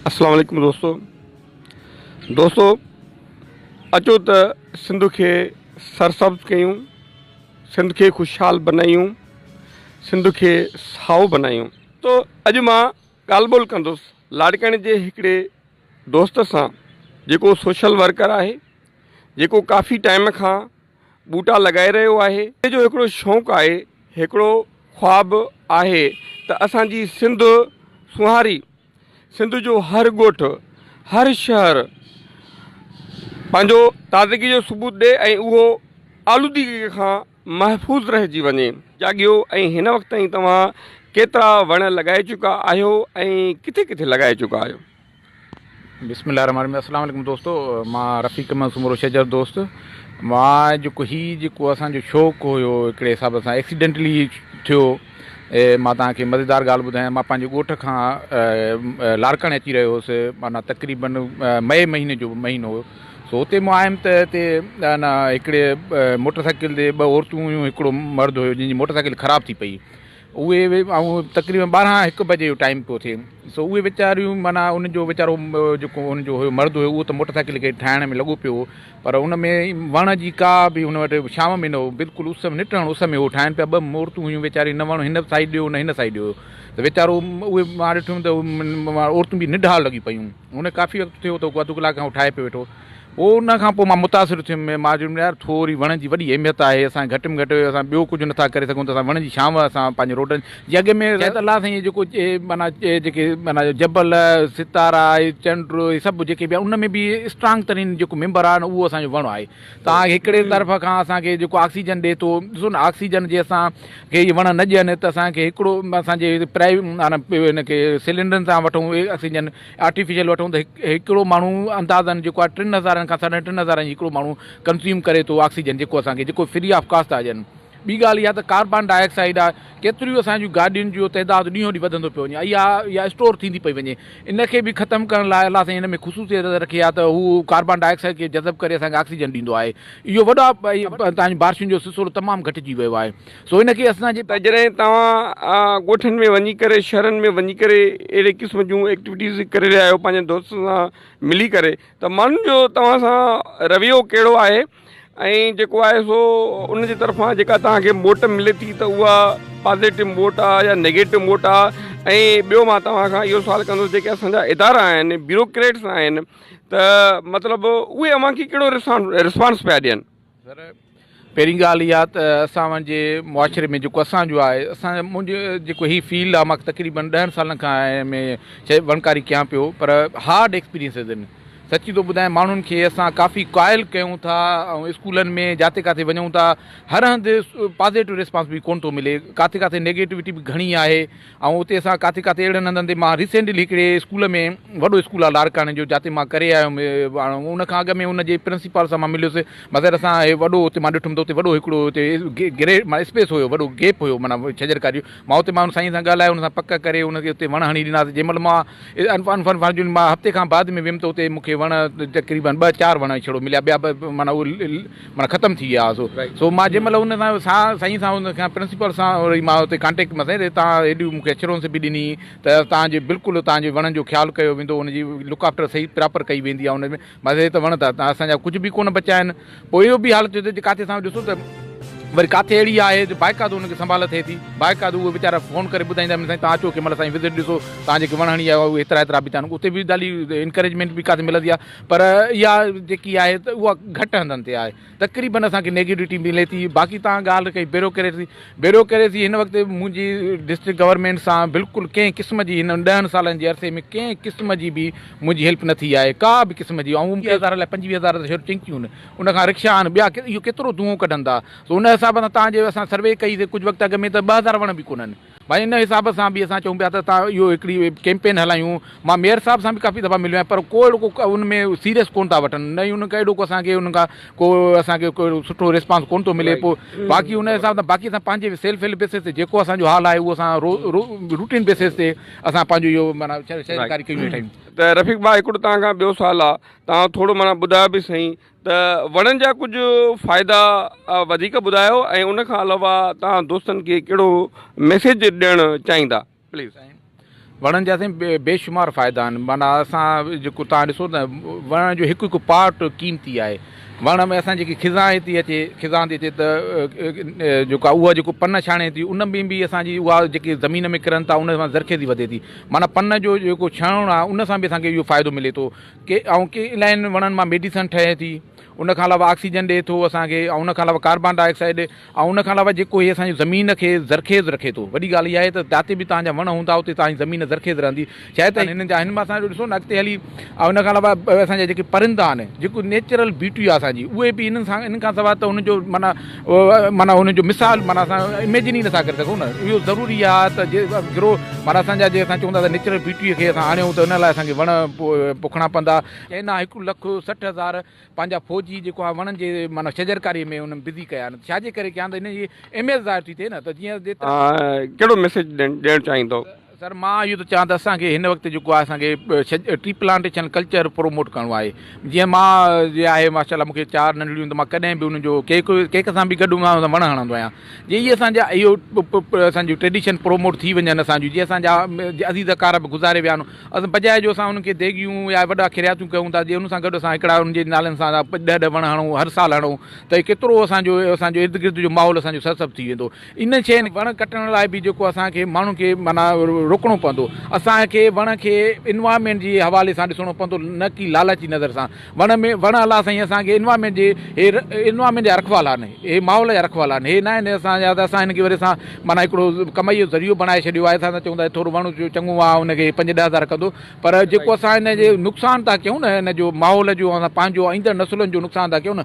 السلام عليڪم دوستو دوستو اچو ته سنڌ کي سرسبز ڪيون سنڌ کي خوشحال بنايون سنڌ کي سائو بنايون تو اڄ مان ڳالھ ٻولھ ڪندس لاڙڪاڻي جي هڪڙي دوست سان جيڪو سوشل ورڪر آهي جيڪو ڪافي ٽائيم کان ٻوٽا لڳائي رهيو آهي. مون جو هڪڙو شوق آهي، هڪڙو خواب آهي ته اسان جي سنڌ سونهاري، سنڌ جو هر ڳوٺ، هر شهر پنهنجو تازگي جو ثبوت ڏئي ۽ اهو آلودگي کان محفوظ رهجي وڃي. جاڳيو ۽ هن وقت تائين توهان ڪيترا وڻ لڳائي چڪا آهيو ۽ ڪٿي ڪٿي لڳائي چڪا آهيو؟ بسم الله الرحمٰن الرحيم السلام عليڪم دوستو مان رفيق احمد سومرو شجر دوست مان جيڪو هي جيڪو اسان جو شوق هيو هڪڙي حساب سان ايڪسيڊنٽلي ٿيو مان توهان کي مزيدار ڳالهه ٻڌايان مان پنهنجي ڳوٺ کان لاڙڪاڻي اچي رهيو هوس معنيٰ تقريبن مئي مهيني جو مهينو هو سو اتي مون آيم ته هتي ان هڪڙي موٽر سائيڪل تي ٻه عورتون هيون هڪڙو مرد هيو جنهن جي موٽر سائيڪل خراب ٿي پئي اهي به ۽ تقريبن ٻارهن هڪ بجي جو ٽائيم پيو ٿئي سو اهي ويچاريون معنيٰ ان جو ويچارو جيڪو ان جو هيو مرد هيو اهو ته موٽر سائيڪل کي ٺاهڻ ۾ لڳو پيو هو پر ان ۾ وڻ جي ڪا به هن وٽ شام ۾ نه هو بلڪل اس ۾ نٽ هڻ اس ۾ هو ٺاهن پيا ٻه عورتون هيون ويچاري نه وڻ هن سائيڊ ڏيو نه هن سائيڊ ڏيو ته ويچارو اهي مان ڏٺم ته عورتون به نڍال لڳي پيون هن ڪافي وقت ٿيو ته اڌ ڪلاڪ کان هو ٺاهي پيو ويٺو پوء ان کان پوء مان متاثر ٿيم ۽ مان چيم يار ٿوري وڻ جي وڏي اهميت آهي اسان کي گهٽ ۾ گهٽ اسان ٻيو ڪجهه نه ٿا ڪري سگهون ته اسان وڻ جي ڇانو اسان پنهنجي روڊن جي اڳ ۾ شايد الله سائين هي جيڪو معنيٰ جيڪي معنيٰ جبل ستارا هي چنڊ هي سڀ جيڪي به ان ۾ به اسٽرانگ ترين جيڪو ميمبر آهي نه اهو اسان جو وڻ آهي توهان کي هڪڙي طرف کان اسان کي جيڪو آڪسيجن ڏي ٿو ڏسو نه آڪسيجن جي اسان کي هي وڻ نه ڏين ته اسان کي هڪڙو اسان جي پرائي معنيٰ ان کي سلينڊرن سان وٺون آڪسيجن آرٽيفيشل وٺون ته هڪڙو ماڻهو اندازن جيڪو آهي ٽن هزارن کان ساڍن ٽن هزارن جي هڪڙو ماڻهو ڪنزيوم ڪري ٿو آڪسيجن جيڪو اسان کي جيڪو فري آف ڪاسٽ آهي ڏين ٻي ڳالهه اها ته ڪاربان ڊاء آڪسائيڊ آهي ڪيتريون اسان جون گاڏين جو تعداد ڏينهون ڏينهن وڌندو پيو وڃي اها اها اسٽور ٿيندي پئي وڃي ان کي به ختم ڪرڻ لاء الله سائين ان ۾ خصوصيت رکي آهي ته هو ڪاربان ڊاء آڪسائيڊ کي جذب ڪري اسان کي آڪسيجن ڏيندو آهي اهو وڏو آهي تان بارشن جو سلسلو تمام گهٽجي ويو آهي سو ان کي اسان جي. ته جڏهن توهان ڳوٺن ۾ وڃي ڪري شهرن ۾ وڃي ڪري اهڙي قسم جون ايڪٽيوٽيز ڪري رهيا آهيو پنهنجن دوستن سان ملي ڪري ته ماڻهن جو توهان سان رويو ڪهڙو آهي ۽ جيڪو آهي سو ان جي طرفان جيڪا توهان کي موٽ ملي ٿي ته اها پازيٽو موٽ آهي يا نيگيٽو موٽ آهي ۽ ٻيو مان توهان کان اهو سوال ڪندس جيڪي اسان جا ادارا آهن بيوروڪريٽس آهن ته مطلب اهي اوهان کي ڪهڙو رسپانس پيا ڏين سر پهرين ڳالهه اها ته اسان جي معاشري ۾ جيڪو اسان جو آهي اسان منهنجو جيڪو هي فيلڊ آهي مان تقريبن ڏهن سالن کان هن ۾ چئي وڻڪاري ڪيان پيو پر هارڊ ايڪسپيرينسز آهن سچي ٿو ٻڌايان ماڻهن کي اسان ڪافي قائل ڪيون ٿا ۽ اسڪولن ۾ جاٿي ڪاٿي وڃون ٿا هر هنڌ پازيٽو ريسپانس به ڪونه ٿو ملي ڪاٿي ڪاٿي نيگيٽوٽي به گهڻي آهي ۽ اتي اسان ڪاٿي ڪاٿي اهڙن هنڌن تي مان ريسينٽلي هڪڙي اسڪول ۾ وڏو اسڪول آهي لاڙڪاڻي جو جاتي مان ڪري آيو هيم ان کان اڳ ۾ ان جي پرنسپال سان مان مليس مگر اسان هي وڏو اتي مان ڏٺم ته اتي وڏو هڪڙو اتي گري معنيٰ اسپيس هيو وڏو گيپ هيو معنيٰ ڇڄر ڪاري جو مان اتي مان ان سائين سان ڳالهايو ان سان پڪ ڪري ان کي اتي وڻ هڻي ڏناسي جنهن مهل مان انفان فن فان جون مان هفتي کان بعد ۾ ويم ته اتي مون کي وڻ تقريبن ٻه چار وڻ ڇڙو مليا ٻيا به معنيٰ معنيٰ ختم ٿي ويا سو سو مان جنهن مهل ان سان سا سائين سان ان کان پرنسپل سان وري مان اتي ڪانٽيڪٽ ۾ سائين تان هيڏيون مون کي اشورنس به ڏني ته تان جي بلڪل تان جي وڻن جو خيال ڪيو ويندو ان جي لڪ آفٽر صحيح پراپر ڪئي ويندي آهي ان ۾ مان سائين ته وڻ ته اسان جا ڪجهه به ڪونه بچيا آهن پوء اهو به حالت ٿيو ته ڪاٿي سان ڏسو ته وري ڪاٿي اهڙي آهي جو باقاعدو ان کي سنڀال ٿئي ٿي باقاعدو اهي ويچارا فون ڪري ٻڌائيندا آهن سائين تان اچو ڪنهن مهل سائين وزٽ ڏسو تان جيڪي وڻ هڻي آيا هئا اهي هيترا هيترا به ٿيا آهن اتي به ڏاڍي انڪريجمينٽ به ڪاٿي ملندي آهي پر اها جيڪي آهي ته اها گهٽ هنڌن تي آهي تقريبن اسان کي نيگيوٽي ملي ٿي باقي تان ڳالهه ڪئي بيروڪريسي بيروڪريسي هن وقت منهنجي ڊسٽرڪٽ گورنمينٽ سان بلڪل ڪنهن قسم جي هن ڏهن سالن جي عرصي ۾ ڪنهن قسم جي به منهنجي هيلپ نه ٿي آهي ڪا به قسم جي ۽ هزار لاء پنجويهه هزار ته شهر ٽنڪيون آهن ان کان رڪشا آهن ٻيا اهو ڪيترو دونهون ڪڍن ٿا سو ان حساب سان تان جي اسان سروي ڪئي سي ڪجهه وقت اڳ ۾ ته ٻه هزار وڻ به ڪونهن ڀائي ان حساب سان به اسان چئون پيا ته تان اهو هڪڙي ڪيمپين هلايون مان ميئر صاحب سان به ڪافي دفعا مليو آهيان پر ڪو اهڙو ڪو ان ۾ سيريس ڪونه ٿا وٺن نه ئي ان کان اهڙو ڪو اسان کي ان کان ڪو اسان کي ڪو سٺو ريسپانس ڪونه ٿو ملي پو باقي ان حساب سان باقي اسان پنهنجي سيلف هيلپ بيسز تي جيڪو اسان جو حال آهي اهو اسان رو رو روٽين بيسز تي اسان پنهنجو اهو معنيٰ شهريڪاري ڪيون ويٺا آهيون. ته رفيق ڀاء هڪڙو توهان کان ٻيو سوال آ توهان ٿورو معنيٰ ٻڌايو به سهين ته وڻن جا ڪجهه فائدا وڌيڪ ٻڌايو ۽ ان کان علاوه توهان دوستن کي ڪهڙو ميسيج ڏيڻ چاهيندا پليز. وڻن جا سائين بيشمار فائدا آهن معنيٰ اسان جيڪو توهان ڏسو ته وڻ جو هڪ هڪ پارٽ قيمتي آهي وڻ ۾ اسان جيڪي خزان هي ٿي اچي خزان ٿي اچي ته جيڪو آهي اها جيڪو پن ڇاڻي ٿي ان ۾ به اسان جي اها جيڪي زمين ۾ ڪرن ٿا ان سان زرخيزي وڌي ٿي معنيٰ پن جو جيڪو ڇڻڻ آهي ان سان به اسان کي اهو فائدو ملي ٿو ڪي ۽ ڪي الائن وڻن مان ميڊيسن ٺهي ٿي ان کان علاوه آڪسيجن ڏي ٿو اسان کي ۽ ان کان علاوه ڪاربان ڊاء آڪسائيڊ ۽ ان کان علاوه جيڪو هي اسان جي زمين کي زرخيز رکي ٿو وڏي ڳالهه اها آهي ته جاتي به توهان جا وڻ هوندا اتي توهان جي زمين زرخيز رهندي شايد ته هنن جا هن مان اسان ڏسو نه اڳتي هلي ۽ ان کان علاوه اسان جا جيڪي پرندا آهن جيڪو نيچرل بيوٽي آهي اسان جي اهي به هنن سان هنن کان سواء ته هن جو معنيٰ معنيٰ ان جو مثال معنيٰ اسان اميجن ئي نٿا ڪري سگهون نه اهو ضروري آهي ته جي گروهه معنيٰ اسان جا جي اسان چون ٿا ته نيچرل بيوٽيء کي اسان آڻيون ته ان لاء اسان کي وڻ پوکڻا پوندا چين آهي هڪ لک سٺ هزار پنهنجا فوجي جيڪو آهي وڻن جي معنيٰ شجرڪاري ۾ انهن بزي ڪيا آهن ڇا جي ڪري ڪيا آهن ته ان جي اهميت ظاهر ٿي ٿئي نه ته جيئن ڪهڙو ميسيج ڏيڻ چاهيندو؟ سر مان اهو ٿو چاهيان ته اسان کي هن وقت جيڪو آهي اسان کي ٽري پلانٽيشن ڪلچر پروموٽ ڪرڻو آهي جيئن مان جي آهي ماشاء الله مون کي چار ننڍڙيون ته مان ڪڏهن به ان جو ڪيڪ ڪيڪ سان به گڏ هوندو آهيان وڻ هڻندو آهيان جي اهي اسانجا اهو اسانجو ٽريڊيشن پروموٽ ٿي وڃن اسانجو جي اسانجا عزيز اقارب به گذاري ويا آهن اسان بجاء جو اسان انهن کي ديڳيون يا وڏا کرياتيون ڪيون ٿا جي ان سان گڏ اسان هڪڙا ان جي نالن سان ڏهه ڏهه وڻ هڻون هر سال هڻون ته هي ڪيترو اسانجو اسانجو ارد گرد جو ماحول اسانجو سرسبز ٿي ويندو ان شين وڻ ڪٽڻ لاء به جيڪو اسان کي ماڻهن کي معنيٰ روڪڻو پوندو اسان کي وڻ کي انوائرمينٽ جي حوالي سان ڏسڻو پوندو نه ڪي لالچي نظر سان وڻ ۾ وڻ الله سائين اسان کي انوائرمينٽ جي هي انوائرمينٽ جا رکوالا آهن هي ماحول جا رکوالا آهن هي ناهن اسان جا اسان هن کي وري اسان معنيٰ هڪڙو ڪمائي جو ذريعو بڻائي ڇڏيو آهي اسان چون ٿا ٿورو وڻ چڱو آهي ان کي پنج ڏهه هزار ڪندو پر جيڪو اسان هن جي نقصان ٿا ڪيون نه هن جو ماحول جو اسان پنهنجو ايندڙ نسلن جو نقصان ٿا ڪيون نه